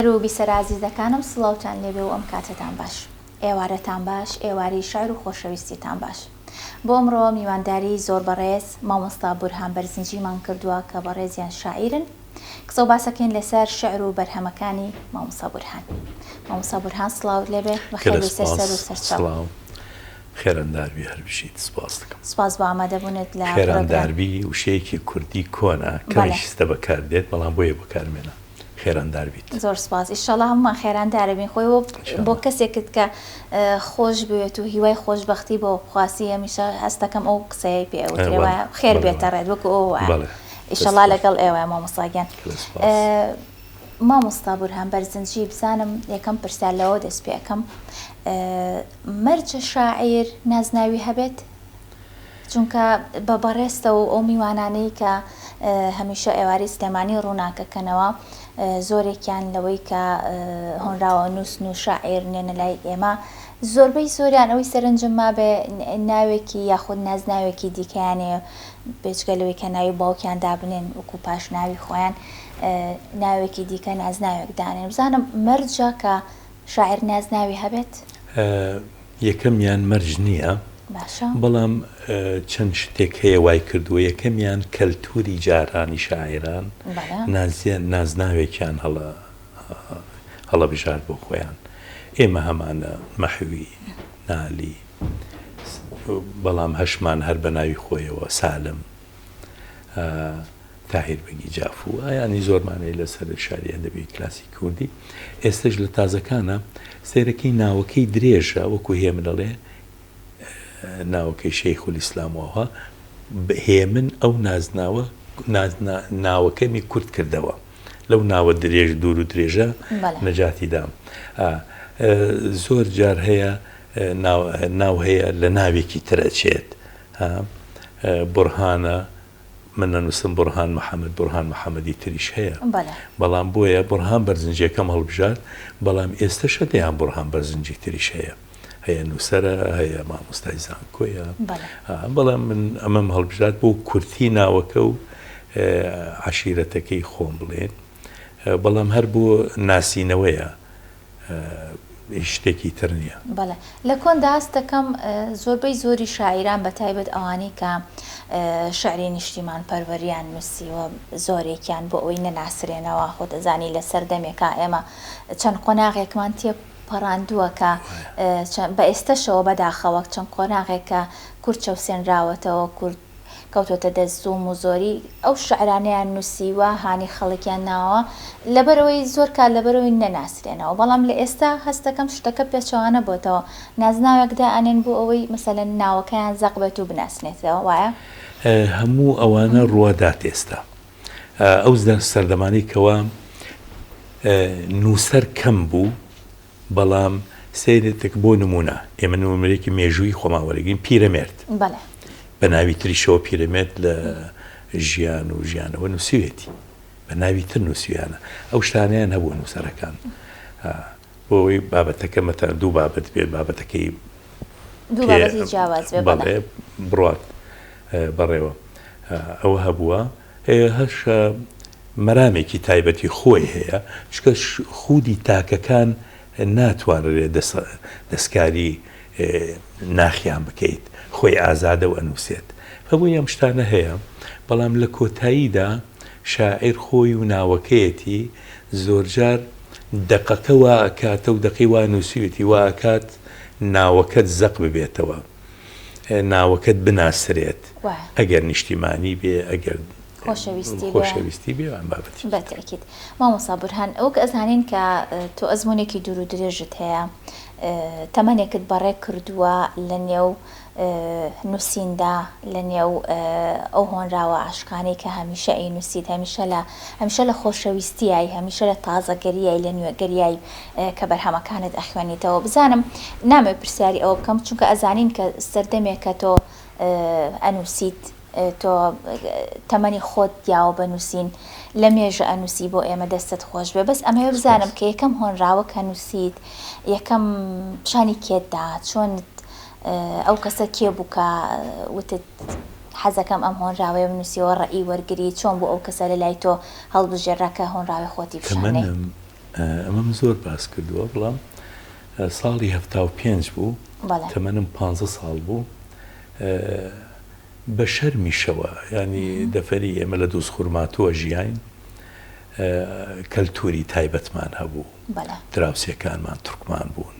هەر و بیسەرە ئازیزەکانم سڵاوتان لێبێ و ئەم کاتەتان باش. ئێوارەتان باش، ئێوارەی شار و خۆشەویستیتان باش. بۆ ئەمڕۆ میوانداریی زۆر بەڕێز مامۆستا بورهان بەرزنجیمان کردووە کە بەڕێزیان شاعیرن. قسە و باسەکەین لەسەر شیعر و بەرهەمەکانی مامۆستا بورهان. مامۆستا بورهان سڵاوت لێبێ، بەخێر بێیتە سەر و سەرچاو. گەلە سپاس، سڵاو. خێراندار بی هەر بژیت، سپاست دەکەم. سپاس بۆ ئامادەبوونت لە پرۆگرام. خێرانداربی وشەیەکی کوردی کۆنە، کەمیش ستە بەکاردێت، بەڵام بۆیە بەکارمێنام. خێراندار بیت. زۆر سوپاس ئیشەڵا هەموومان خێراندارەبین خۆی وەک بۆ کەسێکت کە خۆش بوێت و هیوای خۆش بەختی بۆ خواسی هەمیشە هەستەکەم ئەو قسەیەی پێ ئەوترێ وایە خێر بێتە ڕێت وەکو ئەو وایە ئیشەڵا لەگەڵ ئێوە مامۆستا گیان مامۆستا بورهان بەرزنجی بزانم یەکەم پرسیار لەوە دەست پێ ئەکەم مەرجە شاعیر نازناوی هەبێت؟ چونکە بە بەڕێزتە و ئەو میوانانەی کە هەمیشە ئێوارەی سلێمانی ڕووناکەکەنەوە زۆرێکیان لەوەی کە هۆنراوە نووسن و شاعیر نێنە لای ئێمە زۆربەی زۆریان ئەوەی سەرنجم مابێ ناوێکی یاخود نازناوێکی دیکەیانێ بێجگە لەوەی کە ناوی باوکیان دابنێن وەکو پاش ناوی خۆیان ناوێکی دیکە نازناوێک دانێن بزانم مەرجە کە شاعر نازناوی هەبێت؟ یەکەمیان مەرج نییە باشە. بەڵام چەند شتێک هەیە وای کردووە یەکەمیان کەلتووری جارانی شاعێران بەڵێ. نازیان نازناوێکیان هەڵە هەڵەبژارد بۆ خۆیان ئێمە هەمانە مەحوی نالی بەڵام هەشمان هەر بە ناوی خۆیەوە سالم تاهیر بەگی جاف و ئایانی زۆرمانەی لەسەر شاری ئەدەبی کلاسی کوردی ئێستش لە تازەکانە سەیرەکەی ناوەکەی درێژە وەکو هێمن دەڵێ ناوەکەی شەیخ ئیسلامەوە هێمن ئەو نازناوە ناوەکەمی کورت کردەوە لەو ناوە درێژ دوور و درێژە نەجاتی دام زۆر جار هەیە ناو هەیە لە ناوێکی ترەچێت ها بورهانە من نەنووسم بورهان محمد بورهان محمدی تریش هەیە بەڵێ بەڵام بۆیە بورهان بەرزنجەکەم هەڵبژارد بەڵام ئێستەشە دەیان بورهان بەرزنجی تریش هەیە هەیە نووسەرە هەیە مامۆستای زانکۆیە بەڵێ ها، بەڵام من ئەمەم هەڵبژارد بۆ کورتی ناوەکە و اه، عەشیرەتەکەی خۆم بڵێن اه، بەڵام هەر بۆ ناسینەوەیە هیچ شتێکی تر نیە. بەڵێ لە کۆندا هەست دەکەم زۆربەی زۆری شاعیران بە تایبەت ئەوانەی کە شعری نیشتیمان پەروەریان نووسیوە زۆرێکیان بۆ ئەوەی نەناسرێنەوە خۆت ئەزانی لە سەردەمێکا ئێمە چەند قۆناغێکمان تێ پەڕاندووە کە بە ئێستەشەوە بەداخەوە چەند قۆناغێکە کورد چەوسێنراوەتەوە کورد کەوتۆتە دەست زوڵم و زۆری ئەو شعرانەیان نوسیوە هانی خەڵکیان ناوە لەبەرئەوەی زۆر کات لەبەرئەوەی نەناسرێنەوە بەڵام لەئێستا هەستەکەم شتەکە پێچەوانە بۆتەوە نازناوێک دائەنێن بۆ ئەوەی مەسەلەن ناوەکەیان زەق بێت و بناسرێتەوە وایە؟ هەموو ئەوانە ڕوادات ئێستا ئەو سەردەمانەی کەوا نوسەر کەم بوو بەڵام سەیرێتک بۆ نموونە ئێمە نموونەیەکی مێژوویی خۆمان وەرەگرین پیرەمێرد بە ناوی تریشەوە پیرەمێرد لە ژیان و ژیانەوە نووسویەتی بە ناوی تر نووسویانە ئەو شتانیان هەبوو نووسەرەکان بۆی بابەتەکە مەتەن دوو بابەت بێت بابەتەکەی بڕات بەڕێوە ئەوە هەبووە هش مەرامێکی تایبەتی خۆی هەیە چونکە خودی تاکەکان ناتوانرێت دەستکاری ناخیان بکەیت خۆی ئازادە و ئەنووسێت بۆیە ئەم شتانە هەیە بەڵام لە کۆتاییدا شاعیر خۆی و ناوەکەیەتی زۆرجار دەقەکە وا ئەکاتە و دەقی وا نووسیوێتی وا ئەکات ناوەکەت زەق ببێتەوە. ناوەکەت بناسرێت ئەگەر نیشتیمانی بێ ئەگەر خۆشەویستی بێ بابەتی بەتەکیت مامۆسا بورهان ئەوک ئەزانین کە تۆ ئەزمونێکی دوور و درێژت هەیە تەمەنێکت بەڕێ کردووە لە نێو نووسیندا لە نێو ئەو هۆنراوە عاشقانەی کە هەمیشە ئەی نووسیت هەمیشە لە هەمیشە لە خۆشەویستیایی هەمیشە لە تازەگەریی لە نوێگەریایی کە بەرهەمەکانت ئەخوێنیتەوە بزانم نامەوێ پرسیاری ئەوە بکەم چونکە ئەزانین کە سەردەمێکە تۆ ئەنوسیت تۆ تەمەنی خۆت دیاوە بە نوسین لە مێژە ئەنوسی بۆ ئێمە دەستت خۆش بێ بەس ئەمەوێ بزانم کە یەکەم هۆنراوە کە نوسیت یەکەم پیشانی کێت دا چۆنت ئەو کەسە کێ بوو کە وتت حەزەکەم ئەم هۆنراوەیە بنوسیەوە ڕێی وەرگری چۆن بوو ئەو کەسە لە لای تۆ هەڵبژێرا کە هۆنراوەی خۆتی بشانێ؟ ئەمەم زۆر باس کردووە بڵام ساڵی هەفتا و پێنج بوو تەمەنم پ ساڵ بوو بە شەرمیشەوە ینی دەفەری ئێمە لە دووس خورماتووە ژیین کەلتوری تایبەتمان هەبوو دراوسەکانمان تورکمان بوون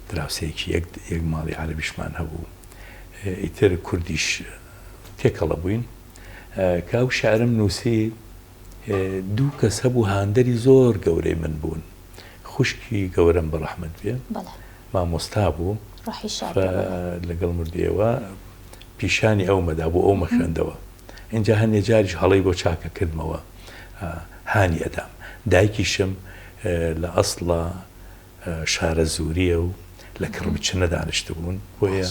دراوسەیەکی یەک یەک ماڵی عربیشمان هەبوو ئیتر کوردیش تێکەڵە بووین کاو شارم نووسی دوو کەس هەبوو هاندەری زۆر گەورەی من بوون خوشکی گەورەم بەڕەحمەت بێ مامۆستا بوو لەگەڵ مردوێەوە پیشانی ئەو مەدا بۆ ئەو مەخێندەوە اینجا هەندێک جاریش هەڵی بۆ چاکە کردمەوە هانی ئەدام دایکیشم لە ئەسڵە شارەزوورییە و لە کڕمچنە دانیشتبوون، بۆیە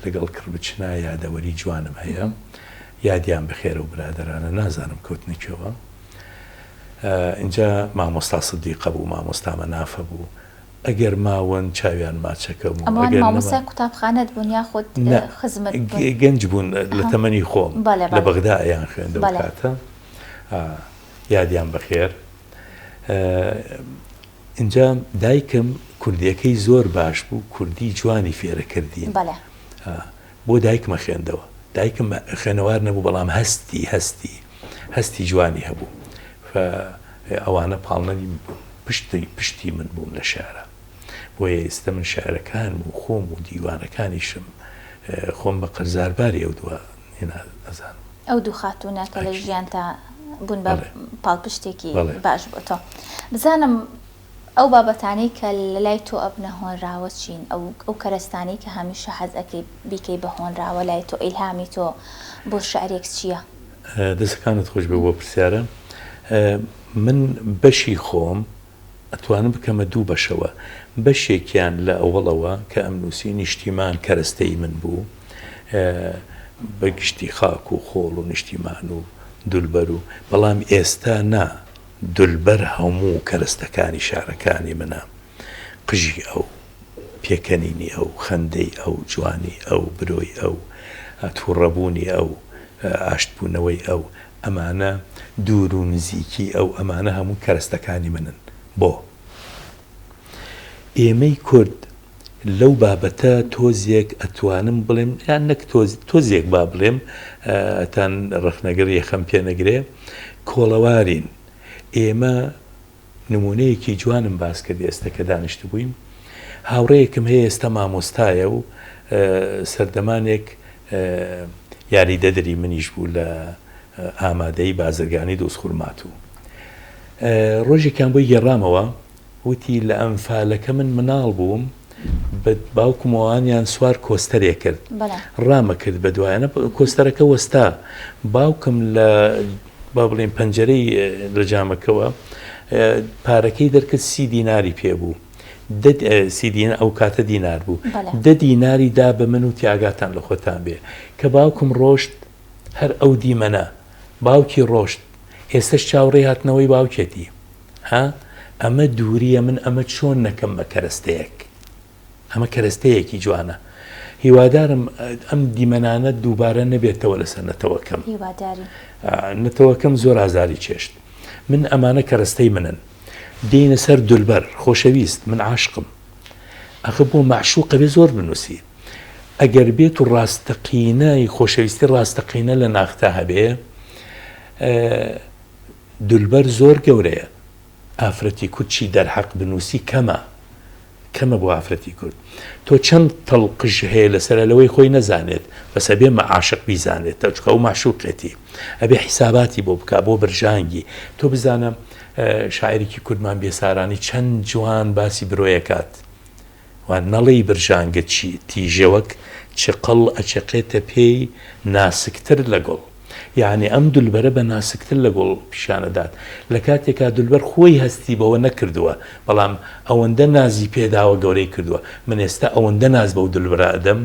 لەگەڵ کڕمچنە یادەوەری جوانم هەیە، یادیان بەخێر ئەو برادەرانە، نازانم کەوتنە کوێوە. ئینجا مامۆستا سدیقە بوو، مامۆستا مەنافە بوو، ئەگەر ماون چاویان ماچەکەم و ئەگەر نەماون. ئەوان مامۆستای قوتابخانەت بوون یاخود خزمت بوون؟ نا، گەنج بوون لە تەمەنی خۆم، لە بەغدا ئەیان خوێند ئەو کاتە. یادیان بەخێر. ئینجا دایکم کوردیەکەی زۆر باش بوو کوردی جوانی فێرە کردین بەڵێ بۆ دایکمە خوێندەوە دایکم خوێنەوار نەبوو بەڵام هەستی هەستی هەستی جوانی هەبوو ئەوانە پاڵنەری بوون پشتی پشتی من بووم لە شارە بۆیە ئێستا من شارەکان و خۆم و دیوانەکانیشم خۆم بە قەرزارباری ئەو دووە من ئەزانم. ئەو دوو خاتوونە کە لە ژیانتا بوون بە پاڵپشتێکی باش بۆ تۆ. بزانم ئەو بابەتانەی کە لە لای تۆ ئەبنە هۆنراوە چین؟ ئەو کەرەستانەی کە هەمیشە حەز ئەکەی بیکەی بە هۆنراوە لای تۆ، ئیلهامی تۆ بۆ شیعرێک چییە؟ دەستەکانت خۆشبێت بۆ پرسیارە. من بەشی خۆم ئەتوانم بکەمە دوو بەشەوە بەشێکیان لە ئەوەڵەوە کە ئەم نووسی نیشتیمان کەرەستەی من بوو بە گشتی خاک و خۆڵ و نیشتیمان و دولبەر و بەڵام ئێستا نا دولبەر هەموو کەرەستەکانی شارەکانی منە قژی ئەو پێکەنینی ئەو خەندەی ئەو جوانی ئەو برۆی ئەو توڕەبوونی ئەو ئاشتبوونەوەی ئەو ئەمانە دوور و نزیکی ئەو ئەمانە هەموو کەرەستەکانی منن بۆ ئێمەی کورد لەو بابەتە تۆزێک ئەتوانم بڵێم یان نەک تۆزێک با بڵێم ئەتان ڕەخنەگەر یەخەم پێنەگرێ کۆڵەوارین ئێمە نموونەیەکی جوانم باس کرد ئێستا کە دانیشتبووین هاوڕێیەکم هەیە ئێستا مامۆستایە و سەردەمانێک یاریدەدەری منیش بوو لە ئامادەی بازرگانی دۆزخورمات و ڕۆژێکیان بۆی گێڕامەوە وتی لە ئەمفالەکە من مناڵ بووم بە باوکمەوانیان سوار کۆستەرێ کرد ڕامە کرد بە دوایانە کۆستەرەکە وەستا باوکم لە با بڵێین پەنجەرەی لە جامەکەوە پارەکەی دەرکرد سی دیناری پێبوو سیدین ئەو کاتە دینار بوو دە دیناری دا بە من و تیاگاتان لە خۆتان بێ کە باوکم ڕۆشت هەر ئەو دیمەنە باوکی ڕۆشت ئێستش چاوڕێ هاتنەوەی باوکێتی ها ئەمە دووریە من ئەمە چۆن نەکەم بە کەرەستەیەک ئەمە کەرەستەیەکی جوانە هیوادارم ئەم دیمەنانە دووبارە نەبێتەوە لەسەر نەتەوەکەم نەتەوەکەم زۆر ئازاری چێشت من ئەمانە کەرەستەی منن دێنە سەر دولبەر خۆشەویست من عاشقم ئەخە بۆ مەعشوقە بێ زۆر بنووسی ئەگەر بێت و ڕاستەقینای خۆشەویستی ڕاستەقینە لە ناختا هەبێ دولبەر زۆر گەورەیە ئافرەتی کورد چی دەرحەق بنوسی کەمە کەمە بۆ ئافرەتی کورد تۆ چەند تەڵقژ هەیە لەسەر لەوەی خۆی نەزانێت بەس ئەبێ مەعاشق بیزانێت تەچکە و ماشوقێتی ئەبێ حیساباتی بۆ بک بۆ برژانگی تۆ بزانە شاعرێکی کوردمان بێسارانی چەند جوان باسی برۆیەکات وا نەڵێی برژانگە چی تیژەوەک چقڵ ئەچەقێتە پێی ناسکتر لە گوڵ یەعنی ئەم دولبەرە بە ناسکتر لە گوڵ پیشان ئەدات لە کاتێکا دولبەر خۆی هەستی بەوە نەکردووە بەڵام ئەوەندە نازی پێداوە گەورەی کردووە من ئێستا ئەوەندە ناز بەو دولبرە ئەدەم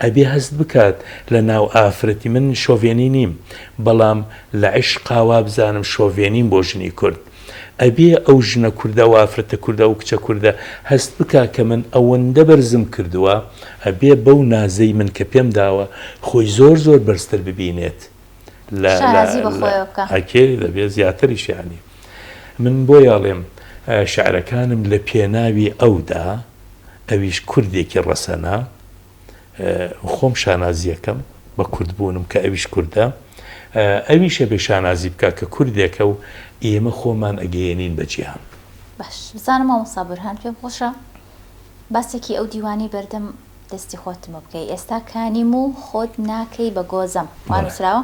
ئەبێ هەست بکات لە ناو ئافرەتی من شۆڤێنی نیم بەڵام لە عیشقا وابزانم شۆڤێنیم بۆ ژنی کورد ئەبێ ئەو ژنە کوردە وافرەتە کوردە وکچە کوردە هەست بکا کە من ئەوەندە بەرزم کردوە ئەبێ بەو نازەی من کە پێم داوە خۆی زۆر زۆر بەرزتر ببینێت لە شانازی بە خۆیەوە بکا. ئەکێ دەبێ زیاتریش یانی من بۆیە ئەڵێم شعرەکانم لە پێناوی ئەودا. ئەویش کوردێکی ڕەسەنە خۆم شانازیەکەم بە کوردبوونم کە ئەویش کوردە ئەویش ئەبێ شانازی بکە کە کوردێکە و ئێمە خۆمان ئەگەیەنین بە جیهان باش بزانم مامۆستا بورهان پێم خۆشە باسێکی ئەو دیوانەی بەردەم دەستی خۆتمە بکەی ئێستا کانیم و خۆت ناکەی بە گۆزەم وا نووسراوە؟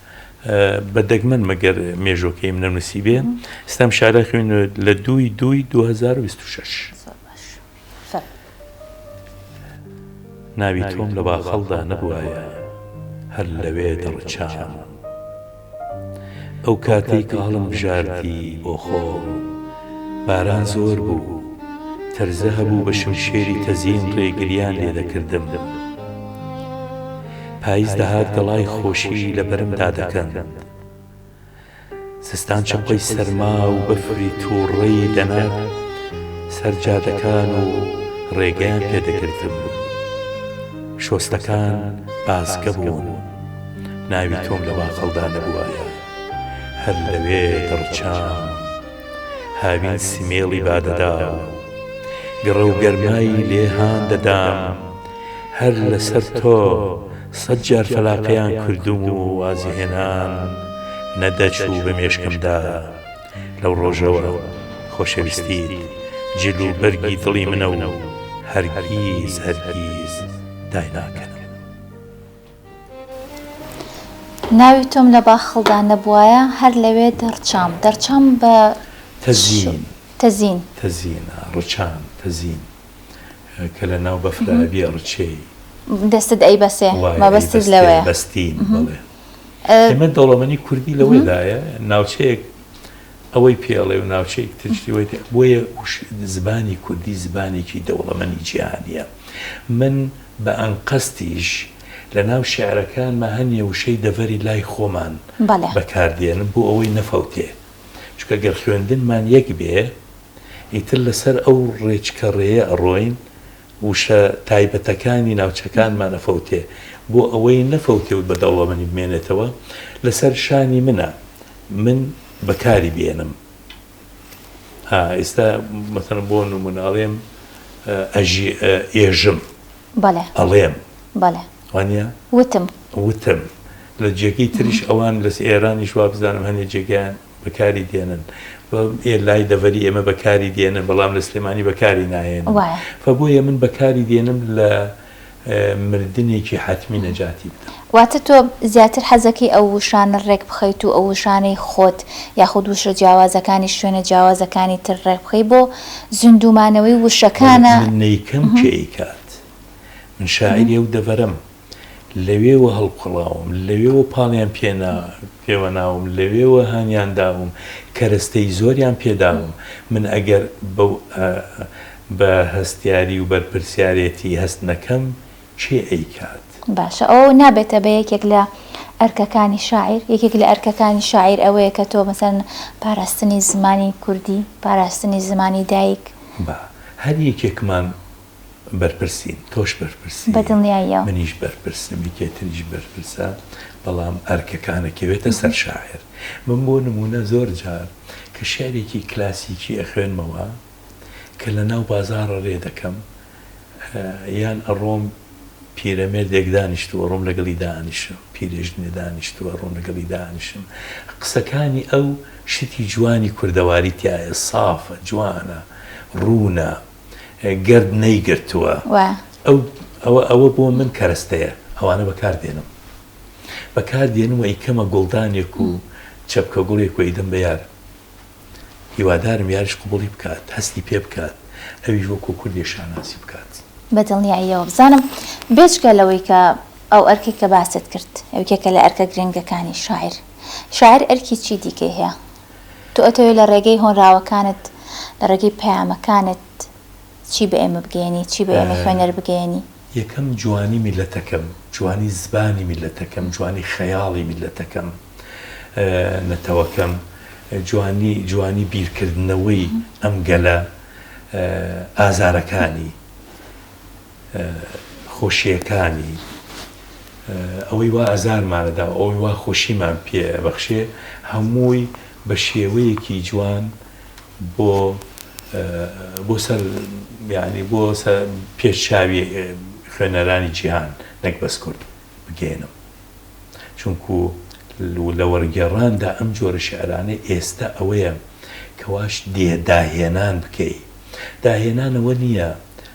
بە دەگمەن مەگەر مێژۆکەیم نەنووسیبێ ستەم شارە خوێن لە دووی دووی 2026. ناوی تۆم لە باخەڵدا نەبوایە هەر لەوێ دەڕچام ئەو کاتەی کە هەڵم بژاردی بۆ خۆ باران زۆر بوو تەرزە هەبوو بە شمشێری تەزین ڕێگریان لێ دەکردم دەم. پایز دەهات گەڵای خۆشی لە بەرمدا دەکەند. زستان چەقۆی سەرما و بەفری تووڕەی دەنارد سەر جادەکان و ڕێگەیان پێ دەگرتم. شۆستەکان بازگە بوون. ناوی تۆم لە واخڵدا نەبووایە هەر لەوێ دەڕچام. هاوین سمێڵی بادەدا و گڕە و گەرمای لێ هان دەدام. هەر لەسەر تۆ سەد جار فەلاقەیان کردووم و وازی هێنام نەدەچوو بە مێشکمدا لەو ڕۆژەوە خۆشەویستیت جل و بەرگی دڵی منە و هەرگیز هەرگیز دایناکەنم. ناوی تۆم لە باخڵدا نەبوایە هەر لەوێ دەڕچام دەڕچام بە تەزین تەزین تەزین ڕچام تەزین. کە لە ناو بەفرا ئەبیێ ڕچێی. دەستت ئەیبەسێ مەبەستت لەوەیە. بەستین بەڵێ. ئێمە دەوڵەمەنی کوردی لەوەدایە ناوچەیەک ئەوەی پێ ئەڵێ و ناوچەیەک ترشی وەی پێ بۆیە زبانی کوردی زبانێکی دەوڵەمەنی جیهانیە. من بە ئەنقەستیش لە ناو شێعرەکانما هەنێ وشەی دەڤەری لای خۆمان بەکاردێنم بۆ ئەوەی نەفەوتێ. چونکە گەر خوێندنمان یەک بێ، ئیتر لەسەر ئەو ڕێچکە ڕێیە ئەڕۆین وشە تایبەتەکانی ناوچەکانمان ئەفەوتێ بۆ ئەوەی نەفەوتێ و بەدەوڵەمەنی بمێنێتەوە لەسەر شانی منە من بەکاری بێنم ها ئێستا مەسەلەن بۆ نموونە ئەڵێم ئەژی ئێژم بەڵێ ئەڵێم بەڵێ وانە وتم وتم لە جێگەی تریش ئەوان لەس ئێرانیش وابزانم هەنێ جێگەیان بەکاری دێنن و ئێ لای دەڤەری ئێمە بەکاری دێنن بەڵام لە سلێمانی بەکاری ناهێنن وایە فە بۆیە من بەکاری دێنم لە مردنێکی حەتمی نەجاتی بدەم. واتە تۆ زیاتر حەزەکەی ئەو وشانە ڕێک بخەیت و ئەو وشانەی خۆت یاخود وشە جیاوازەکانی شوێنە جیاوازەکانی تر ڕێک بخەی بۆ زیندوو مانەوەی وشەکانە؟ من نەیکەم کێ ئەیکات من شاعیری ئەو دەڤەرەم. لەوێوە هەڵقوڵاوم، لەوێوە پاڵیان پێوەناوم، لەوێوە هانیان داوم، کەرەستەی زۆریان پێ داوم. من ئەگەر بەو بە هەستیاری و بەرپرسیارێتی هەست نەکەم، کێ ئەیکات؟ باشە ئەوە نابێتە بە یەکێک لە ئەرکەکانی شاعیر؟ یەکێک لە ئەرکەکانی شاعیر ئەوەیە کە تۆ مەسەلەن پاراستنی زمانی کوردی، پاراستنی زمانی دایک. با هەر یەکێکمان بەرپرسین تۆش بەرپرسی بەدڵنیاییەوە. منیش بەرپرسم یەکێ تریش بەرپرسە بەڵام ئەرکەکان ئەکەوێتە سەر شاعیر من بۆ نموونە زۆر جار کە شعرێکی کلاسیکی ئەخوێنمەوە کە لە ناو بازاڕ رێ دەکەم یان ئەڕۆم پیرەمێردێک دانیشتووە ڕۆم لەگەڵی دانیشم پیرێژنێ دانیشتووە ڕۆم لەگەڵی دانیشم قسەکانی ئەو شتی جوانی کوردەواری تیایە سافە جوانە ڕوونە. گرد نەیگرتووە ئەو ئەوە بۆ من کەرەستەیە ئەوانە بەکار دێنم بەکار دێنم و ئیکەمە گوڵدانێک و چەپکە گوڵێک و ئیدەم بە یار هیوادارم یاریش قوبڵی بکات هەستی پێ بکات ئەویش وەکو کوردێ شانازی بکات بە دڵنیاییەوە بزانم بێجگە لەوەی کە ئەو ئەرکی کە باست کرد ئەوکێکە لە ئەرکە گرنگەکانی شاعیر شاعیر ئەرکی چی دیکەی هەیە؟ تۆ ئەتەوێت لە ڕێگەی هۆنراوەکانت، لە ڕێگەی پەیامەکانت چی بە ئێمە بگەیەنی، چی بە ئێمەی خوێنەر بگەیەنی؟ یەکەم جوانی میللەتەکەم، جوانی زبانی میللەتەکەم، جوانی خەیاڵی میللەتەکەم، نەتەوەکەم، جوانی جوانی بیرکردنەوەی ئەم گەلە ئازارەکانی. خۆشییەکانی، ئەوەی وا ئازارمانە دا و ئەوەی وا خۆشیمان پێ بەخشێ، هەمووی بە شێوەیەکی جوان بۆ بۆ سەر یانی بۆ سە پێش چاوی خوێنەرانی جیهان، نەک بەس کورد، بگەیەنم. چونکو لە وەرگێڕان دا ئەم جۆرە شیعرانەی ئێستە ئەوەیە کە واش دێ داهێنان بکەی. داهێنان ئەوە نییە،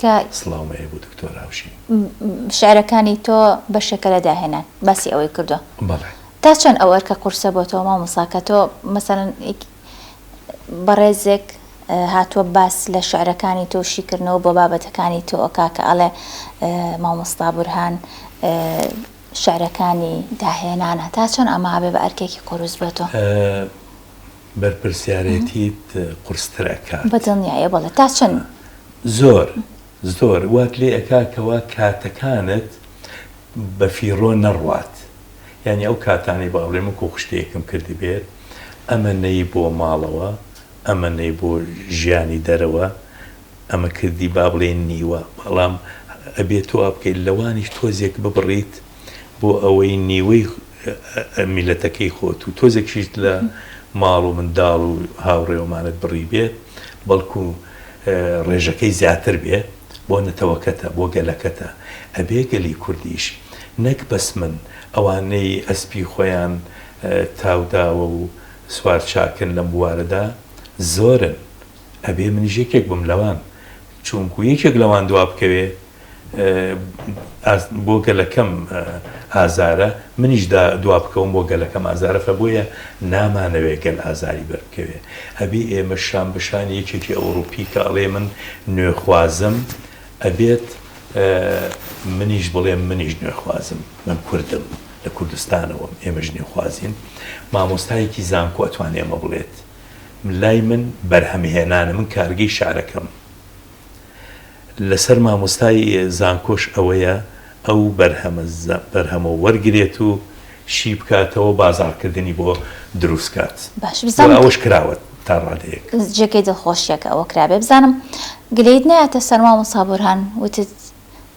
کە سڵاو مەیە بۆ دکتۆر هاوشین. شعرەکانی تۆ بەشێکە لە داهێنان باسی ئەوەی کردوە بەڵێ. تا چەند ئەو ئەرکە قورسە بۆ تۆ مامۆسا کە تۆ مەسەلەن بەڕێزێک هاتوە باس لە شعرەکانی تۆ شیکردنەوە بۆ بابەتەکانی تۆ ئەکا کە ئەڵێ مامۆستا بورهان شعرەکانی داهێنانە تا چەند ئەمە ئەبێ بە ئەرکێکی قوروس بۆ تۆ؟ بەرپرسیارێتیت قورستر ئەکات. بەدڵنیایە بەڵێ تا چەند؟ زۆر زۆر وات لێ ئەکات کەوا کاتەکانت بەفیڕۆ نەڕوات یانی ئەو کاتانەی با بڵێ من کۆخشتەیەکم کردبێت ئەمە نەی بۆ ماڵەوە ئەمە نەی بۆ ژیانی دەرەوە ئەمە کردی با بڵێ نیوە بەڵام ئەبێت تۆ وا بکەیت لەوانیش تۆزێک ببڕیت بۆ ئەوەی نیوەی میلەتەکەی خۆت و تۆزێکشیت لە ماڵ و منداڵ و هاوڕێوەمانت بڕی بێت بەڵکو ڕێژەکەی زیاتر بێ بۆ نەتەوەکەتە بۆ گەلەکەتە ئەبێ گەلی کوردیش نەک بەس من ئەوانەی ئەسپی خۆیان تاوداوە و سوار چاکن لەم بوارەدا زۆرن ئەبێ منیش یەکێک بم لەوان چوونکو یەکێک لەوان دوا بکەوێ بۆ گەلەکەم ئازارە منیش دوا بکەوم بۆ گەلەکەم ئازارە خە بۆیە نامانەوێ گەل ئازاری بەربکەوێ ئەبی ئێمە شان بەشان یەکێکی ئەوروپی کە ئەڵێ من نوێخوازم ئەبێت منیش بڵێ منیش نوێخوازم من کوردم لە کوردستانەوەم ئێمەش نوێخوازین مامۆستایەکی زانکۆ ئەتوانێمە بڵێت لای من بەرهەمهێنانە من کارگەی شارەکەم لەسەر مامۆستای زانکۆش ئەوەیە ئەو بەرهەمە وەرگرێت و شی بکاتەوە بازاڕکردنی بۆ دروست کات و ئەوەش کراوە تا ڕادەیەک. جێگەی دڵخۆشیە کە ئەوە کرابێ. بزانم گلەیت نایەتە سەر مامۆستا بورهان وتت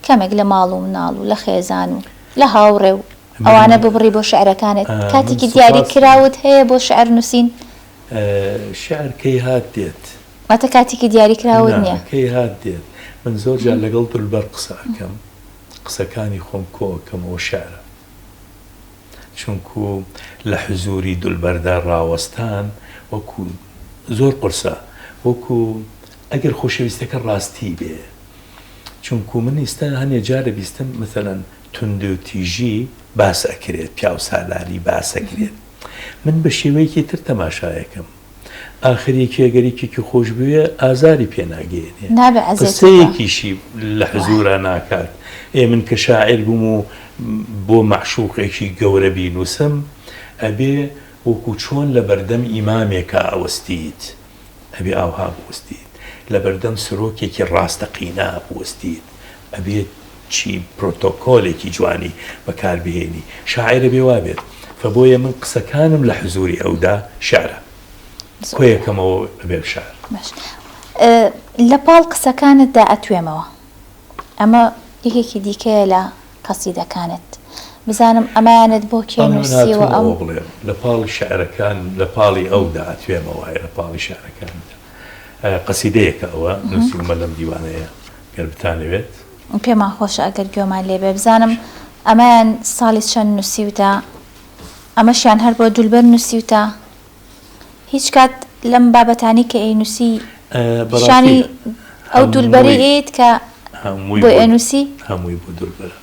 کەمێک لە ماڵ و مناڵ و لە خێزان و لە هاوڕێ و ئەوانە ببڕی بۆ شعرەکانت کاتێکی دیاری کراوت هەیە بۆ شعر نوسین؟ شعر کەی هات دێت. واتە کاتێکی دیاریکراوت نا نیە. کەی هات دێت من زۆر جار لەگەڵ دولبەر قسە ئەکەم قسەکانی خۆم کۆ ئەکەمەوە شعرە چونکو لە حزوری دولبەردا ڕاوەستان وەکو زۆر قورسە وەکو ئەگەر خۆشەویستەکە ڕاستی بێ چونکو من ئیستا هەنێ جار ئەبیستم مەسەلەن توندوتیژی باس ئەکرێت پیاوسالاری باس ئەکرێت من بە شێوەیەکی تر تەماشای ئەکەم ئاخر یەکێ گەر یەکێکی خۆش بوێ ئازاری پێ ناگەیەنێ نابێ ئەزێتێ بە. قسەیەکیشی لە حزورا ناکات ئێ من کە شاعیر بووم و بۆ مەعشوقێکی گەورە بینووسم ئەبێ وەکوو چۆن لە بەردەم ئیمامێکا ئەوەستیت ئەبێ ئاوها بوەستیت لە بەردەم سەرۆکێکی ڕاستەقینە بوەستیت ئەبێ چی پرۆتۆکۆلێکی جوانی بەکار بهێنی شاعیر ئەبێ وابێت فە بۆیە من قسەکانم لە حزوری ئەودا شعرە کۆیەکەمەوە ئەبێم شعر. باش لە پاڵ قسەکانتدا ئەتوێمەوە ئەمە یەکێکی دیکەیە لە قەسیدەکانت بزانم ئەمانەت بۆ کێ بەڵێ من نووسیوە هاتوومە ئەو. ئەوە بڵێم لە پاڵ شعرەکان لە پاڵی ئەودا ئەتوێمەوە ئەی لە پاڵی شعرەکانیدا. قەسیدەیەکە ئەوە نوسیومە لەم دیوانەیە گەر بتانەوێت. پێمان خۆشە ئەگەر گوێمان لێ بێ بزانم ئەمەیان ساڵی چەند نوسیوتە ئەمەشیان هەر بۆ دولبەر نوسیوتە هیچ کات لەم بابەتانی کە ئەینوسی پیشانی ئەو دولبەرەی ئەیەیت کە بۆی ئەنوسی؟ هەمووی بۆ دولبەرە.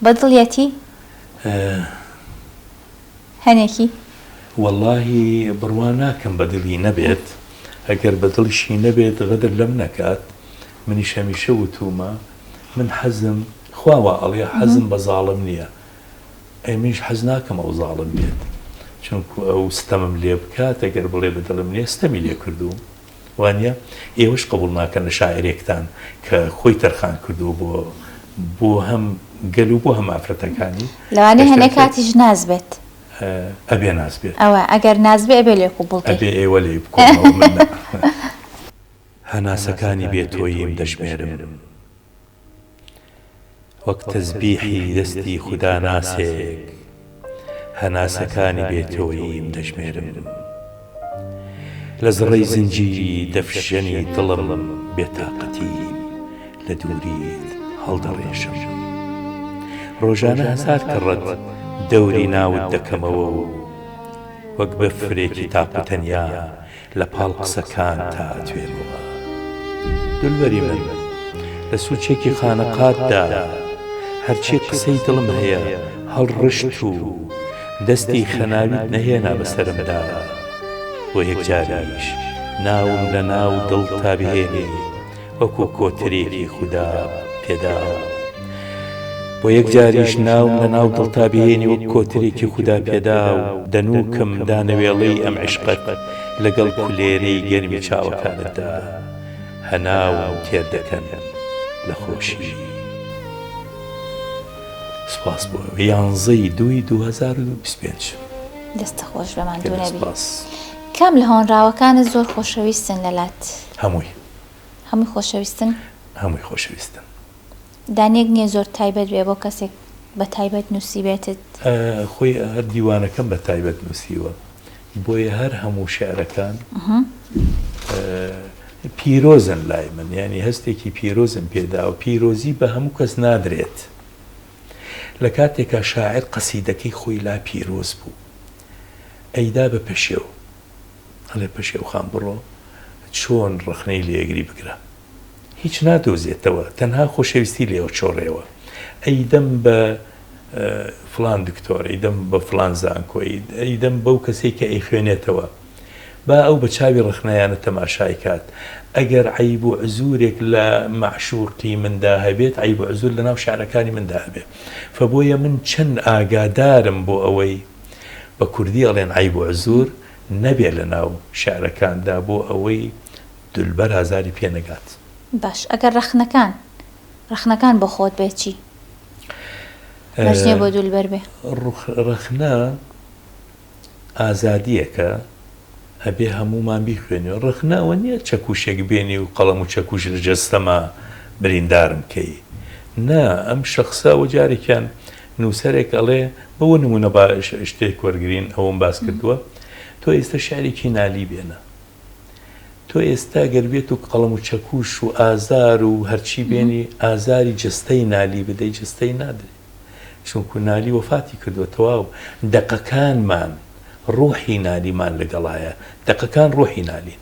بە دڵیەتی؟ هەنێکی. وەڵاهی بڕوا ناکەم بە دڵی نەبێت ئەگەر بە دڵیشی نەبێت غەدر لەم نەکات منیش هەمیشە وتوومە من حەزم خوا وا ئەڵێ حەزم بە زاڵم نیە ئەی منیش حەز ناکەم ئەو زاڵم بێت چونکوو ئەو ستەمم لێ بکات ئەگەر بڵێ بە دڵم نیە ستەمی لێ کردووم وانیە؟ ئێوەش قبوڵ ناکەن لە شاعیرێکتان کە خۆی تەرخان کردووە بۆ بۆ هەم گەل و بۆ هەم ئافرەتەکانی. لەوانەیە هەنێ کاتیش ناز بێت. ئەبێ ناز بێت. ئەوە ئەگەر ناز بێ ئەبێ لێ قبوڵ کەی. ئەبێ ئێوە لێی بکۆنەوە من نا. هەناسەکانی بێ تۆییم دەژمێرم. وەک تەزبیحی دەستی خوداناسێک هەناسەکانی بێ تۆییم دەژمێرم لە زڕەی زنجیری دەفشەنی دڵم بێ تاقەتیم لە دووریت هەڵدەڕێژم ڕۆژانە هەزار کەڕەت دەوری ناوت دەکەمەوە و وەک بەفرێکی تاق و تەنیا لە پاڵ قسەکانتا ئەتوێمەوە دولبەری من لە سوچێکی خانەقاتدا هەرچی قسەی دڵم هەیە هەڵڕشت و دەستی خەناویت نەهێنا بە سەرمدا بۆ یەکجاریش ناوم لە ناو دڵتا بهێنی وەکو کۆترێکی خودا پێداوە بۆ یەکجاریش ناوم لە ناو دڵتا بهێنی وەک کۆترێکی خودا پێداو دەنوکم دانەوێڵەی ئەم عیشقەت لەگەڵ کولێرەی گەرمی چاوەکانتدا هەناوم تێر دەکەن لە خۆشی سپاس بۆ یانزە ی دووی دو هەزار و بیست و پێنج. دەستە خۆش بەماندونەبی. کام لە هۆنراوەکانت زۆر خۆشەویستن لەلات؟ هەمووی. هەمووی خۆشەویستن؟ هەمووی خۆشەویستن. دانەیەک نییە زۆر تایبەت بێ بۆ کەسێک بە تایبەت نووسیبێتت؟ خۆی هەر دیوانەکەم بە تایبەت نووسیوە، بۆیە هەر هەموو شیعرەکان پیرۆزن لای من، یانی هەستێکی پیرۆزم پێ داوە. پیرۆزی بە هەموو کەس نادرێت. لە کاتێکا شاعیر قەسیدەکەی خۆی لا پیرۆز بوو، ئەیدا بە پەشێو. ئەڵێ پەشێو خان بڕۆ چۆن ڕەخنەی لێگری بگرە هیچ نادۆزێتەوە تەنها خۆشەویستی لێ ئەچۆڕێەوە ئەیدەم بە فلان دکتۆر ئەیدەم بە فلان زانکۆ ئەیدەم بەو کەسێک کە ئەی خوێنێتەوە با ئەو بە چاوی ڕخنایانە تەماشای کات ئەگەر عیب و عزورێک لە معشوقی مندا هەبێت عیب و عزور لە ناو شعرەکانی مندا هەبێت فبۆیە من چەند ئاگادارم بۆ ئەوەی بە کوردی ئەڵێن عەیب و عزور نەبێ لە ناو شعرەکاندا بۆ ئەوەی دولبەر ئازاری پێ نەگات. باش ئەگەر ڕەخنەکان ڕەخنەکان بۆ خۆت بێ چی مەرج نیە بۆ دولبەر بێ؟ ڕەخنە ئازادیەکە ئەبێ هەموومان بیخوێنێ ڕەخنە ئەوە نیە چەکوشێک بێنی و قەڵەم و چەکوش لە جەستەما بریندارم کەی نا ئەم شخصە وە جارێکیان نووسەرێک ئەڵێ، بۆ نموونە با شتێک وەرگرین ئەوەم باس کردووە، تۆ ئێستا شیعرێکی نالی بێنە، تۆ ئێستا گەر بێت و قەڵەم و چەکوش و ئازار و هەرچی بێنی، ئازاری جەستەی نالی بدەی، جەستەی نادرێ، چونکوو نالی وەفاتی کردووە، تەواو، دەقەکانمان ڕووحی نالیمان لەگەڵایە، دەقەکان ڕووحی نالین،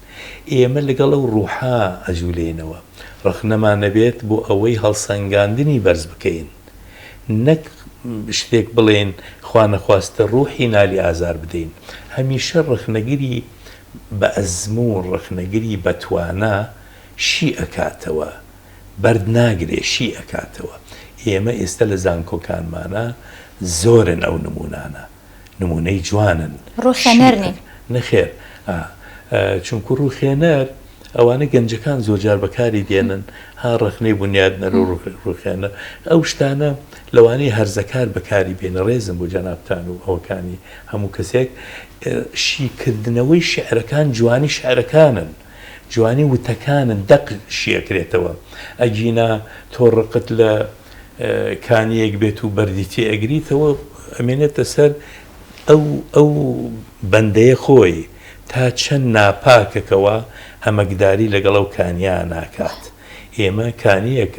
ئێمە لەگەڵ ئەو ڕووحە ئەجوولێینەوە، ڕەخنەمان نەبێت بۆ ئەوەی هەڵسەنگاندنی بەرز بکەین. نەک شتێک بڵێین خوانەخواستە ڕوحی نالی ئازار بدەین هەمیشە ڕەخنەگری بە ئەزموون ڕەخنەگری بە توانا شی ئەکاتەوە بەرد ناگرێ شی ئەکاتەوە ئێمە ئێستا لە زانکۆکانمانا زۆرن ئەو نموونانە نمونەی جوانن شیکن نەخێر چونکو ڕوخێنەر ئەوانە گەنجەکان زۆرجار بەکاری دێنن ها ڕەخنەی بنیادنەر و ڕوخێنە ئەو شتانە لەوانەی هەرزەکار بەکاری بێنە ڕێزم بۆ جەنابان و ئەوکانی هەموو کەسێک شیکردنەوەی شعرەکان جوانی شعرەکانن جوانی وتەکانت دەق شیئەکرێتەوە ئەگینا تۆ ڕقت لە کانیەک بێت و بەردی تێ ئەگریتەوە ئەمێنێتە سەر ئەو ئەو بەندەیە خۆی تا چەند ناپاکەکەوە ئەمەکداری لەگەڵ ئەو کانیانە ناکات ئێمە کانیەک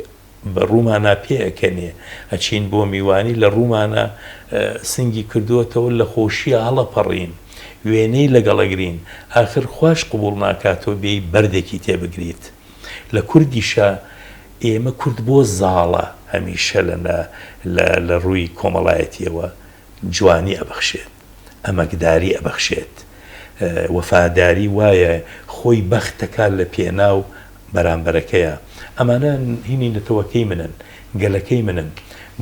بە ڕومانا پێ ئەکەنێ ئەچین بۆ میوانی لە ڕومانا سنگی کردوەتەوە لە خۆشیە هەڵەپەڕین وێنەی لەگەڵ ئەگرین ئاخر خواش قبوڵ ناکات تۆ بێی بەردێکی تێ بگریت لە کوردیشا ئێمە کورد بۆ زاڵە هەمیشە لە لە لە ڕووی کۆمەڵایەتیەوە جوانی ئەبەخشێت. ئەمەکداری ئەبەخشێت. وەفاداری وایە خۆی بەخت دەکات لە پێناو بەرامبەرەکەیا. ئەمانە هینی نەتەوەکەی منن، گەلەکەی منن.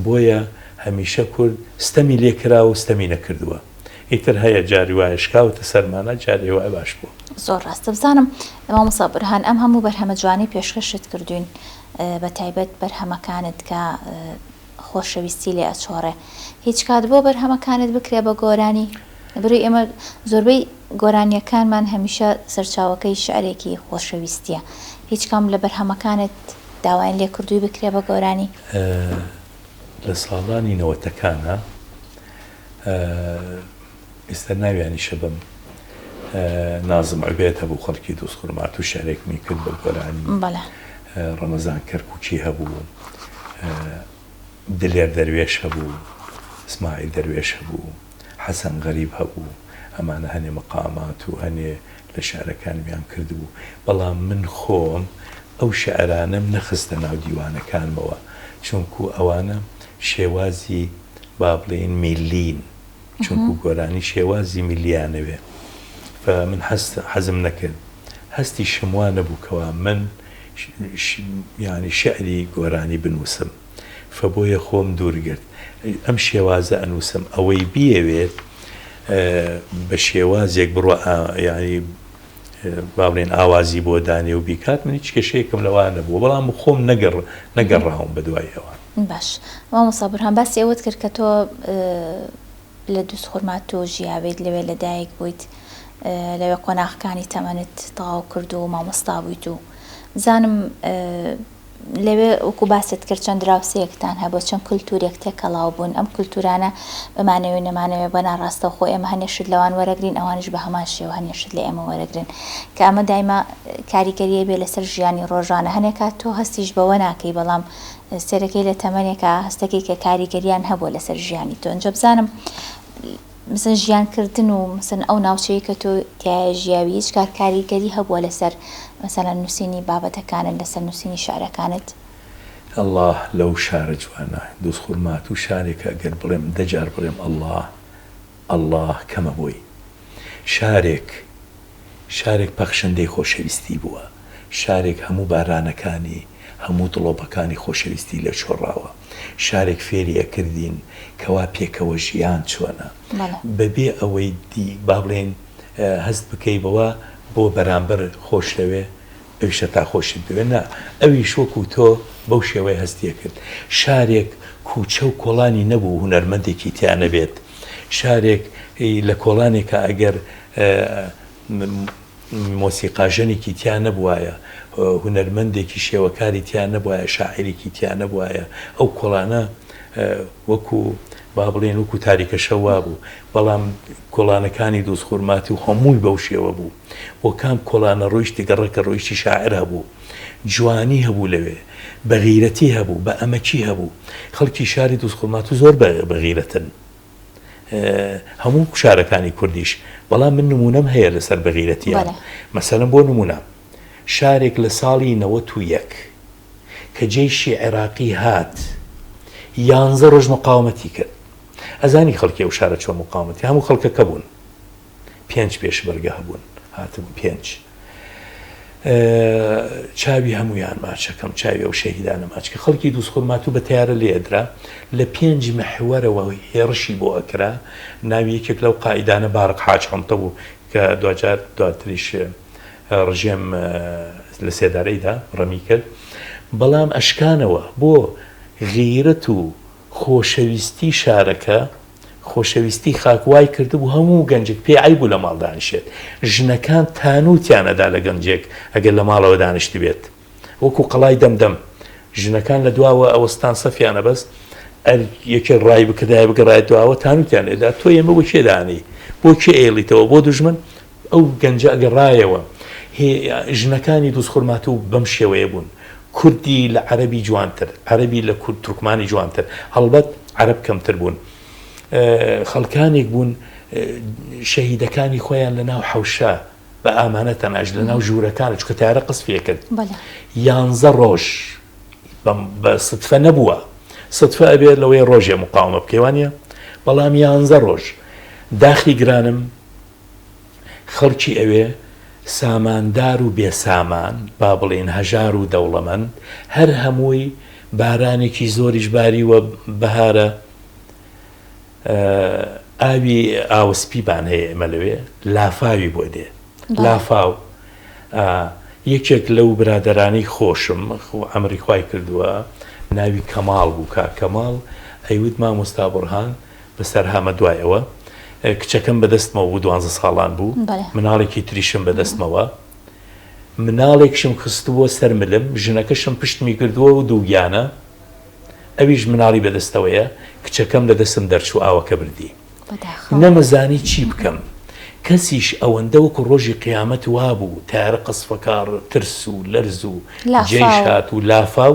بۆیە هەمیشە کورد ستەمی لێ کراوە و ستەمی نەکردووە. ئیتر هەیە جاری وایە شکاوەتە سەرمانا جارێ وایە باش بووە. زۆر ڕاستە بزانم مامۆستا بورهان ئەم هەموو بەرهەمە جوانەی پێشکەشت کردووین بە تایبەت بەرهەمەکانت کە، خۆشەویستی لێ ئەچۆڕێ هیچ کات بۆ بەرهەمەکانت بکرێ بە گۆرانی بروی ئێمە زۆربەی گۆرانیەکانمان هەمیشە سەرچاوەکەی شعرێکی خۆشەویستیە هیچ کام لە بەرهەمەکانت داوایان لێ کردوی بکرێ بە گۆرانی؟ لە ساڵانی نەوەتەکانا. ئێستا ناویانیشە بم نازم عبێد هەبوو خەڵکی دووز خورماتوو شارێک می کرد بە گۆرانی ڕەمەزان کەرککی هەبوو دلێر دەروێش هەبوو سمایل دەروێش هەبوو حەسەن غەریب هەبوو ئەمانە هەنێ مەقامات و هەنێ لە شارەکانمیان کردبوو بەڵام من خۆم ئەو شعرانەم نەخستە ناو دیوانەکانمەوە چونکو ئەوانە شێوازی با بڵێن میلین چونکو گۆرانی شێوازی میللی ئانەوێ و من حەزم نەکرد هەستیشم وا نەبوو کەوا من یانی شعری گۆرانی بنووسم و بۆیە خۆم دوور گرت ئەم شێوازە ئەنووسم ئەوەی بیەوێت بە شێوازێک بڕوا یانی با بڵێین ئاوازی بۆ دانێ و بیکات من هیچ کێشەیەکم لەوە نەبوو بەڵام خۆم نەگەڕ نەگەڕاوم بە دوای ئەوان. باش مامۆستا بورهان باسی ئەوەت کرد کە تۆ لە دووز خورماتوو ژیاویت لەوێ لە دایک بوویت لەوێ قۆناغەکانی تەمەنت تەواو کرد و مامۆستا بوویت و بزانم لەوێ وەکو باست کرد چەند دراوسێکتان هەبوو چەند کللتورێک تێکەڵاو بوون ئەم کللتورانە بمانەوێ نەمانەوێ بە ناڕاستە خۆ ئێمە هەنێشت لەوان وەرەگرین ئەوانش بە هەمان شێوە هەنێشت لە ئێمە وەرەگرن کە ئەمە دایمە کاریگەریە بێ لەسەر ژیانی ڕۆژانە هەنێکا تۆ هەستیش بەوە ناکەی بەڵام سێرەکەی لە تەمەێکا هەستەکەی کە کاریگەریان هەبوو لەسەر ژیانی تۆنجە بزانم مثلا ژیان کردن و مثلا ئەو ناوچەیەی کە تۆ تیایا ژیاوی هیچ کات کاریگەری هەبووە لەسەر مثلا نووسینی بابەتەکانت لەسەر نووسینی شعرەکانت؟ ئەڵا لەو شارە جوانە. دوزخورماتوو و شارێکە گەر بڵێم دە جار بڵێم ئەڵا ئەڵا کەمە بۆی. شارێک شارێک پەخشەندەی خۆشەویستی بووە. شارێک هەموو بارانەکانی. هەموو دڵۆپەکانی خۆشەویستی لێ چۆڕاوە شارێک فێری ئەکردین کەوا پێکەوە ژیان چۆنە بەڵێ. بەبێ ئەوەی دی با بڵێین هەست بکەی بەوە بۆ بەرامبەر خۆش دەوێ ئەویش هەتا خۆشت بوێ نا ئەویش وەکوو تۆ بەو شێوەیە هەستی ئەکرد شارێک کووچە و کۆڵانی نەبوو هونەرمەندێکی تیا نەبێت شارێک ی لە کۆڵانێکا ئەگەر مۆسیقاژەنێکی تیا نەبووایە، هونەرمەندێکی شێوەکاری تیا نەبووایە، شاعیرێکی تیا نەبووایە، ئەو کۆڵانە وەکو با بڵێین وەکو تاریکە شەو وابوو، بەڵام کۆڵانەکانی دووز خورماتوو هەمووی بەو شێوە بوو، بۆ کام کۆڵانە ڕۆیشتی گەڕەکە ڕۆیشتی شاعیر هەبوو، جوانی هەبوو لەوێ، بەغیرەتی هەبوو، بەئەمەکی هەبوو، خەڵکی شاری دووز خورماتوو زۆر بەغیرەتن. هەموو شارەکانی کوردیش بەڵام من نمونەم هەیە لەسەر بەغیرەتیان مەسەرم بۆ نمونە شارێک لە ساڵی نەوەت و یەک کە جێشی عێراقی هات یانزە ڕۆژ مقاومەتی کرد ئەزانی خەڵکی و شارە چۆن مقاومەتی هەموو خەڵکەکە بوون پێنج پێشمەرگە هەبوون هاتبوون پێنج چاوی هەمویان ماچەکەم چاوی ئەو شەهیدانە ماچکە خەڵکی دووسخۆرماتوو بە تیارە لێدرا لە پێنج مەحوەرەوە هێڕشی بۆ ئەکرا ناوی یەکێک لەو قائیدانە باڕق حاج حنتە بوو کە دواجار دواتریش ڕژێم لە سێدارەیدا ڕەمی کرد بەڵام ئەشکانەوە بۆ غیرەت و خۆشەویستی شارەکە، خۆشەویستی خاک وای کردبوو هەموو گەنجێک پێی عەیب بوو لە ماڵ دانیشێت. ژنەکان تانووتیان ئەدا لە گەنجێک ئەگەر لە ماڵەوە دانیشتبێت. وەکوو قەڵای دەمدەم. ژنەکان لە دواوە ئەوەستان سەفیان ئەبەست، ئەر یەکێک ڕای بکردایە بگەڕایە دواوە، تانووتیان ئەدا، تۆ ئێمە بۆ کێ دانێی؟ بۆ کێ ئەیڵیتەوە؟ بۆ دوژمن؟ ئەو گەنجە ئەگەڕایەوە هێ ژنەکانی دوز خورماتوو بەم شێوەیە بوون کوردی لە عەرەبی جوانتر عەرەبی لە کورد تورکمانی جوانتر هەڵبەت عەرەب کەمتر بوون خەڵکانێک بوون شەهیدەکانی خۆیان لە ناو حەوشە بە ئامانە تەناش لە ناو ژوورەکان چکە تارە قس پێ کرد یانزە ڕۆژ بە سفە نەبووە سفە ئەبێت لەوەی ڕۆژێ مقاومە بکەوانە بەڵام یانزە ڕۆژ داخی گرانم خەڵکی ئەوێ ساماندار و بێ سامان، با بڵێین هەژار و دەوڵەمەند، هەر هەمووی بارانێکی زۆریش باریوە بەهارە، ئاوی ئاوسپیمان هەیە ئێمە لەوێ، لافاوی بۆ دێ، لافاو یەکێک لەو برادەرانی خۆشم ئەمری خوای کردووە ناوی کەماڵ بوو، کاک کەماڵ ئەیوت مامۆستا بوڕهان بەسەرهامە دوای ئەوە کچەکەم بەدەستمەوە بوو دوانزە ساڵان بوو بەڵێ مناڵێکی تریشم بەدەستمەوە مناڵێکشم خستبووە سەر ملم ژنەکەشم پشتمی کردووە و دووگیانە ئەویش مناڵی بەدەستەوەیە کچەکەم لە دەستم دەرچوو ئاوەکە بردی بەداخەوە نەمزانی چی بکەم کەسیش ئەوەندە وەکو ڕۆژی قیامەت وابوو تارە قەسفەکاڕ ترس و لەرز و جێیش لافاو هات و لافاو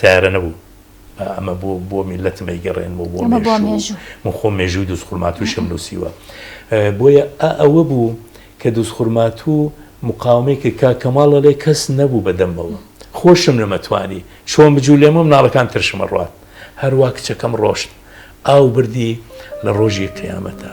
سەیارە نەبوو ئەمە بۆ بۆ میلەتم ئەیگەڕێنم و بۆ من خۆ مێژووی دوست خورماتوشم نووسیوە بۆیە ئەوە بوو کە دوست خورماتوو مقاومەی کە کا کەماڵە لێ کەس نەبوو بەدەمەوە خۆشم نەمەتوانی چۆن بجوو لێمە مناڵەکان ترشمە ڕات هەروە کچەکەم ڕۆشت ئاو بردی لە ڕۆژی قیامەتە.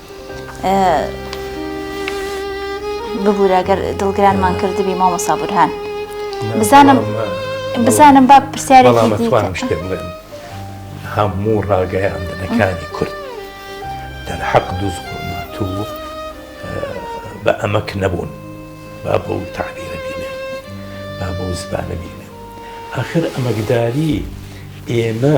ببورە گەر دڵگرانمان کردبی مامۆسا بورهان بزانم بزانم با پرسیارێکی هەموو ڕاگەیاندنەکانی کورد دەرحەق دوز تو بە ئەمەک نەبوون با بۆ تعبیرە بینێ با بۆ زبانە بینێ آخر ئەمەکداری ئێمە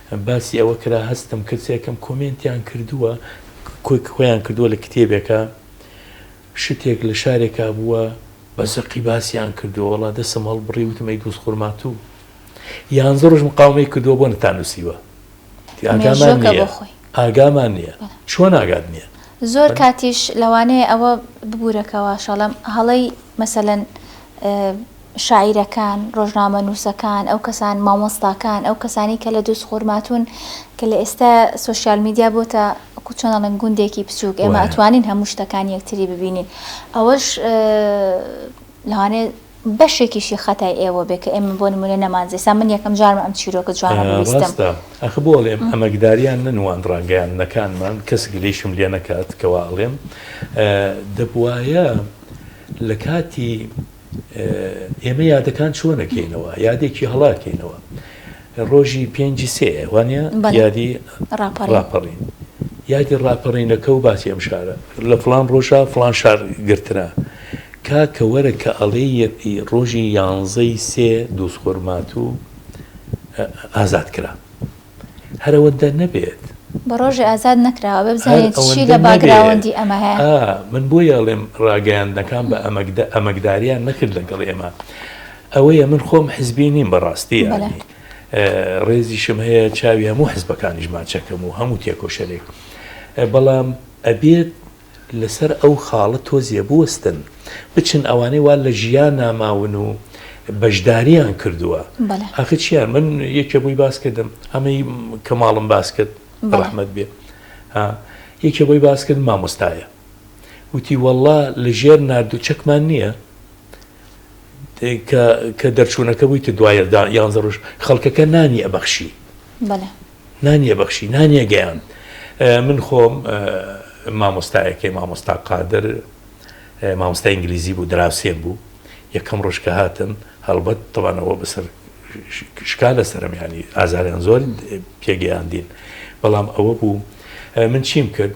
باسی ئەوە کرا هەستم کرد سێکەم کۆمێنتیان کردووە کۆیان کردووە لە کتێبێکا شتێک لە شارێکا بووە بە زەقی باسیان کردووە وەڵا دەسم هەڵبڕی وتم ئەی دووس خورماتوو یانزە ڕۆژ مقاومەی کردووە بۆ نەتان نووسیوە ئاگامان مێژوەکە نییە بۆ خۆی ئاگامان نییە بەڵێ. چۆن ئاگات نییە زۆر کاتیش لەوانەیە ئەوە ببورەکەوە شەڵەم هەڵەی مەسەلەن ئە، شاعیرەکان، ڕۆژنامەنووسەکان، ئەو کەسان، مامۆستاکان، ئەو کەسانەی کە لە دووس خورماتوون کە لە ئێستا سۆشیال میدیا بۆتە چۆن ئەڵێن گوندێکی بچووک ئێمە وایە. ئەتوانین هەموو شتەکان یەکتری ببینین ئەوەش لەوانەیە بەشێکیشی خەتای ئێوە بێ کە ئێمە بۆ نموونە نەمانزی ئێستا من یەکەم جارمە ئەم چیرۆکە جوانە ببیستم. ڕاستە ئەخ بۆ ئەڵێم ئەمەکداریان نەنواند ڕاگەیاندنەکانمان کەس گلەیشم لێ نەکات کە وا ئەڵێم دەبوایە لە کاتی ئێمە یادەکان چۆن ئەکەینەوە یادێکی هەڵە ئەکەینەوە ڕۆژی پێنجی سێ وانە بەڵێ یادی ڕاپەڕین ڕاپەڕین یادی ڕاپەڕینەکە و باسی ئەم شارە لە فڵان ڕۆژە فڵان شار گرترا کاکە وەرە کە ئەڵێ یەتی ڕۆژی یانزەی سێ دووسخۆرماتوو ئازاد کرا. هەر ئەوەندە نەبێت. بە ڕۆژێ ئازاد نەکراوە ئەبێ بزانیت چی لە باگراوەندی ئەمە هەیە. ئا من بۆیە ئەڵێم ڕاگەیاندنەکان بە ئەمەکداریان نەکرد لەگەڵ ئێمە ئەوەیە من خۆم حزبی نیم بەڕاستی یانی ڕێزیشم هەیە چاوی هەموو حزبەکانیشمان چەکەم و هەموو تێکۆشەرێک بەڵام ئەبێت لەسەر ئەو خاڵە تۆزێ بوەستن بچن ئەوانەی وا لە ژیانا ماون و بەشداریان کردووە ئاخر چیان من یەکێ بۆی باس کردم ئەمەی کە ماڵم باس کرد ڕەحمەت بێ یەکێ بۆی باس کرد مامۆستایە وتی وەڵا لە ژێر ناردو چەکمان نییە کە کە دەرچوونەکە بووی تە دوایە دا یانزە ڕۆژ خەڵکەکە نانی ئەبەخشی بەڵێ نانی ئەبەخشی نانی ئەگەیاند من خۆم مامۆستایەکەی مامۆستا قادر مامۆستا ئینگلیزی بوو دراوسێن بوو یەکەم ڕۆژ کە هاتم هەڵبەت تەوانەوە بەسەر شکا لە سەرم ینی ئازاریان زۆر پێگەیاندین بەڵام ئەوە بوو من چیم کرد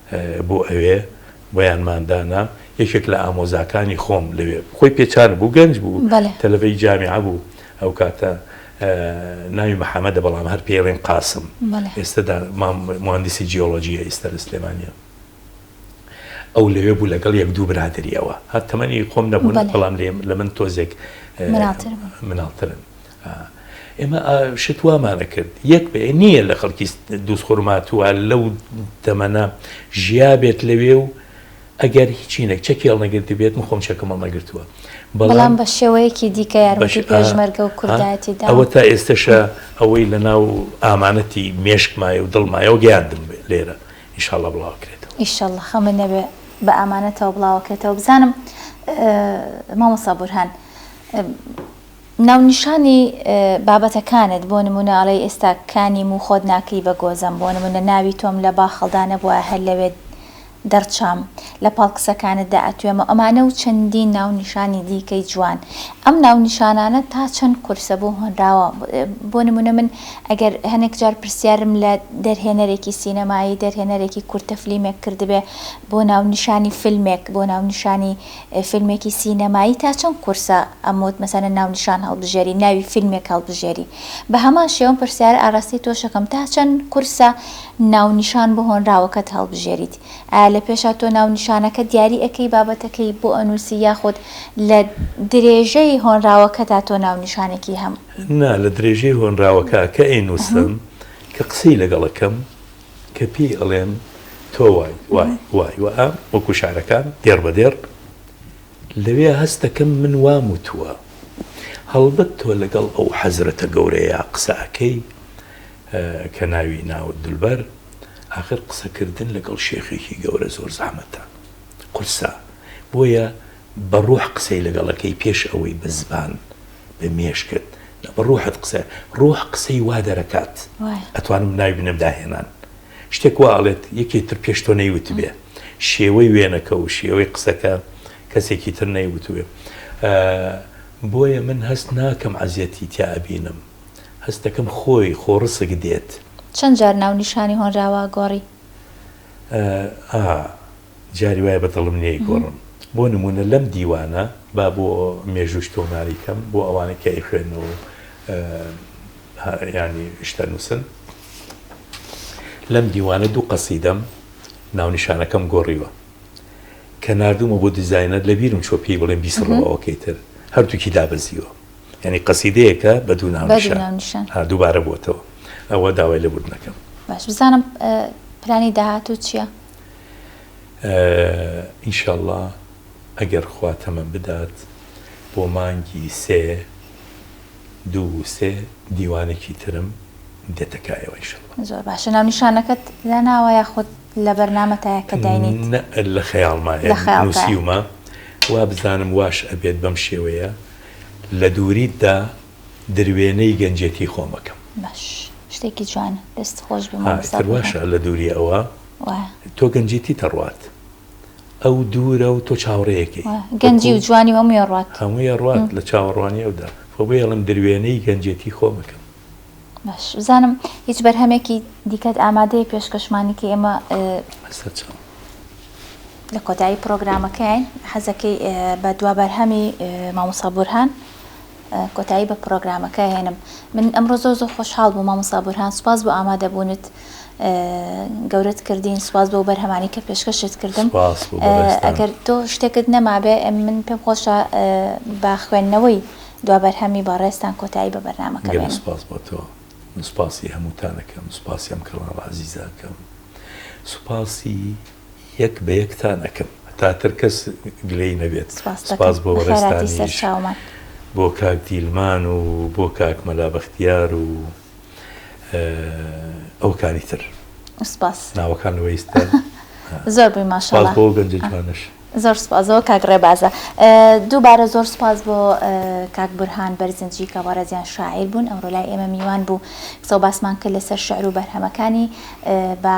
بۆ ئەوێ بۆیانمان دانا یەکێک لە ئامۆزاکانی خۆم لەوێ خۆی پێچان بوو گەنج بوو تەلەبەی جامیعە بوو ئەو کاتە ناوی محەممەدە بەڵام هەر پێڵێن قاسم ئێستادا مهندسی جیۆلۆجیە ئیستا لە سلێمانە ئەو لەوێ بوو لەگەڵ یەک دوو برادری ئەوە هەر تەمەنی خۆم نەبوون بەڵام لێم لە من تۆزێک مناڵترن ئێمە شت وامان ئەکرد یەک بێ نییە لە خەڵکی دووس خورماتوە لەو تەمەە ژیا بێت لەوێ و ئەگەر هیچی نەک چەکی هەڵنەگرت بێت من خۆم چەکەم هەڵنەگرتووە بەڵام بە شێوەیەکی دیکە یارمەتی پێشمەرگە و کوردایەتی دا ئەوە تا ئێستەشە ئەوەی لە ناو ئامانەتی مێشکمایە و دڵمایەوە گەیاندم بێ لێرە ئیشاڵە بڵاوکرێتەوە ئیشەڵ خەمە نەبێ بە ئامانەتەوە بڵاوەکرێتەوە بزانم مامۆسا بورهان ناونیشانی بابەتەکانت بۆ نموونە ئەڵێی ئێستا کانی موو خۆت ناکەی بە گۆزەم بۆ نموونە ناوی تۆم لە باخەڵدا نەبوایە هەر لەوێ دەڕچام لە پاڵ قسەکانتدا ئەتوێمەوە ئەمانە و چەندین ناونیشانی دیکەی جوان ئەم ناونیشانانە تا چەند قورسە بۆ هۆنراوە بۆ نموونە من ئەگەر هەنێک جار پرسیارم لە دەرهێنەرێکی سینەمایی دەرهێنەرێکی کورتە فلیمێک کردبێ بۆ ناونیشانی فلمێک بۆ ناونیشانی فیلمێکی سینەمایی تا چەند قورسە ئەموت مەسەلەن ناونیشان هەڵبژێری ناوی فیلمێک هەڵبژێری بەهەمان شێوەم پرسیارە ئاراستەی تۆشەکەم تا چەند قورسە ناونیشان بۆ هۆنراوەکەت هەڵبژێریت ئایا لە پێشا تۆ ناونیشانەکە دیاری ئەکەی بابەتەکەی بۆ ئەنوسی یاخود لە درێژەی هۆنراوەکەدا تۆ ناونیشانێکی هەم. نا لە درێژەی هۆنراوەکە کە ئەینوسم کە قسەی لەگەڵ ئەکەم کە پێی ئەڵێن تۆ وای وای وای وائە وەکو شعرەکان دێڕ بە دێڕ لەوێ هەست دەکەم من وام وتووە هەڵبەت تۆ لەگەڵ ئەو حەزرەتە گەورەیە قسە ئەکەی کە ناوی ناوت دولبەر ئاخر قسەکردن لەگەڵ شێخێکی گەورە زۆر زەحمەتە قورسە بۆیە بە ڕوح قسەی لەگەڵەکەی پێش ئەوەی بە زبان بە مێشکت نا بە ڕوحت قسە ڕوح قسەی وا دەرەکات وایە. ئەتوانم ناوی بنێم داهێنان شتێک وا ئەڵێت یەکێ تر پێش تۆ نەیوتبێ شێوەی وێنەکە و شێوەی قسەکە کەسێکی تر نەیوتوێ بۆیە من هەست ناکەم عەزیەتی تیا ئەبینم هەست دەکەم خۆی خۆڕسک دێت. چەند جار ناو نیشانی هۆنراوە گۆڕی؟ ئا جاری وایە بەدڵم نیە ئیگۆڕم. بۆ نموونە لەم دیوانە با بۆ مێژووش تۆماری کەم بۆ ئەوانەی کە ئەیخوێنن و یانی شتە نووسن. لەم دیوانە دوو قەسیدەم ناونیشانەکەم گۆڕیوە. کە ناردوومە بۆ دیزاینەر لەبیرم چووە پێی بڵێم بیسڕەوە ئەوەکەی تر. هەردووکی دابەزیوە. یانی قەسیدەیەکە بە دوو ناونیشان. ها دووبارە بۆتەوە. ئەوە داوای لێبوردن ئەکەم. باش بزانم پلانی داهاتوو چیە؟ ان شاء اللە ئەگەر خوا تەمەن بدات بۆ مانگی سێ دوو سێ دیوانێکی ترم دێتەکایەوە ان شاء اللە. زۆر باشە ناونیشانەکەت داناوە یاخود لە بەرنامەتایە کە داینیت؟ نە لە خەیاڵمایە لە خەیاڵتایە. نووسیومە وابزانم واش ئەبێت بەم شێوەیە لە دووریتدا دروێنەی گەنجێتی خۆم ئەکەم. باش شتێکی جوانە دەست خۆش بێ ها مامۆستا ئیتر بۆران. واشە لە دووری ئەوە. وایە. تۆ گەنجیتیت ئەڕوات. ئەو دوورە و تۆ چاوەڕێیەکەی. وایە. گەنجی و جوانی و هەمووی ئەڕوات. هەمووی ئەڕوات لە چاوەڕوانی ئەودا. خۆ بۆیە ئەڵێم دروێنەی گەنجێتی خۆم ئەکەم. باش. بزانم هیچ بەرهەمێکی دیکەت ئامادەیە پێشکەشمانی کەی ئێمە. سەرچاوە. لە کۆتایی پڕۆگرامەکەین. حەزەکەی بە دوا بەرهەمی مامۆستا بورهان. کۆتایی بە پڕۆگرامەکە هێنم من ئەمڕۆ زۆر زۆر خۆشحاڵ بووم مامۆستا بورهان سوپاس بۆ ئامادەبوونت گەورەت کردین سوپاس بۆ بەرهەمانی کە پێشکەشت کردم ئەگەر تۆ شتێکت نەمابێ من پێم خۆشە بە خوێندنەوەی دوا بەرهەمی بەڕێستان کۆتایی بە بەرنمەکە بێن سوپاس بۆ تۆ سوپاسی هەمووتانەکەم سوپاسی ئەم کەڵا عزیزەکەم سوپاسی یەک بە یەکتان ئەکەم هەتا تر کەس گلەی نەبێت سپاس بۆ بەڕێزتانیش بۆ کاک دیلمان و بۆ کاک مەلا بەختیار و ئەوکانی تر سپاس ناوەکان لەوە ئیستا زۆر بووی ماشاڵڵا بۆ گەنجە جوانەش زۆر سپازەوە کاک ڕێبازە دووبارە زۆر سپاس بۆ کاک بورهان بەرزنجی کە بەڕێزیان شاعیر بوون ئەمڕۆ لای ئێمە میوان بوو قسە و باسمان کرد لەسەر شعر و بەرهەمەکانی بە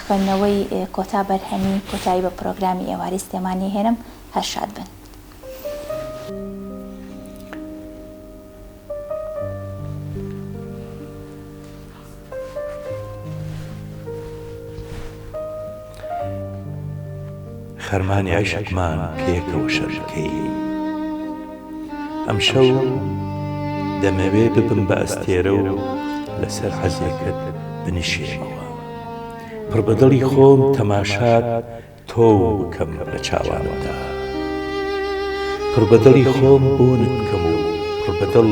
خوێندنەوەی کۆتا بەرهەمی کۆتایی بە پرۆگرامی ئێوارەی سلێمانی ئەهێنم هەر شاد بن. خەرمانی عیشقمان پێکەوە شەر بکەیین ئەمشەو دەمەوێ ببم بە ئەستێرە و لەسەر حەزێکت بنیشێمەوە پڕ بە دڵی خۆم تەماشات تۆ بکەم بە چاوانمدا پڕ بە دڵی خۆم بۆنت بکەم و پڕ بە دڵ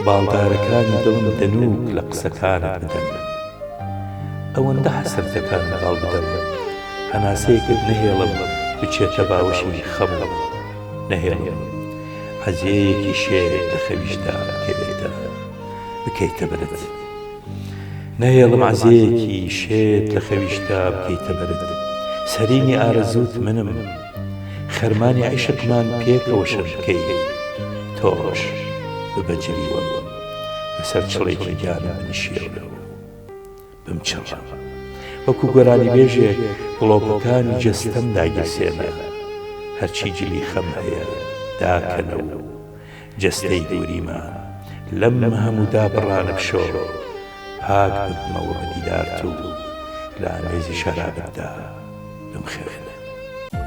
باڵدارەکانی دڵم دەنووک لە قسەکانت بدەن ئەوەندە حەسرت دەکات منداڵ بدەم هەناسەیەکت نەهێڵم بچێتە باوەشی خەم و نەهێڵم عەزێیەکی شێت لە خەویشدا کەوێتە بکەیتە بەرد نەهێڵم عەزێیەکی شێت لە خەویشدا بکەیتە بەرد سەرینی ئارەزووت منم خەرمانی عیشقمان پێکەوە شەش بکەین تۆش ببە جلی وەم. لەسەر چڵێکی گیانم بنیشێورە و بمچڕە. وەکو گۆرانیبێژێک گڵۆپەکانی جەستەم داگیرسێنە. هەرچی جلی خەم هەیە داکەنە و جەستەی دووریمە لەم هەموو دابڕانە بشۆ. پاک ببمەوە بە دیدارت و لە ئامێزی شەرابتدا بمخەوێنە.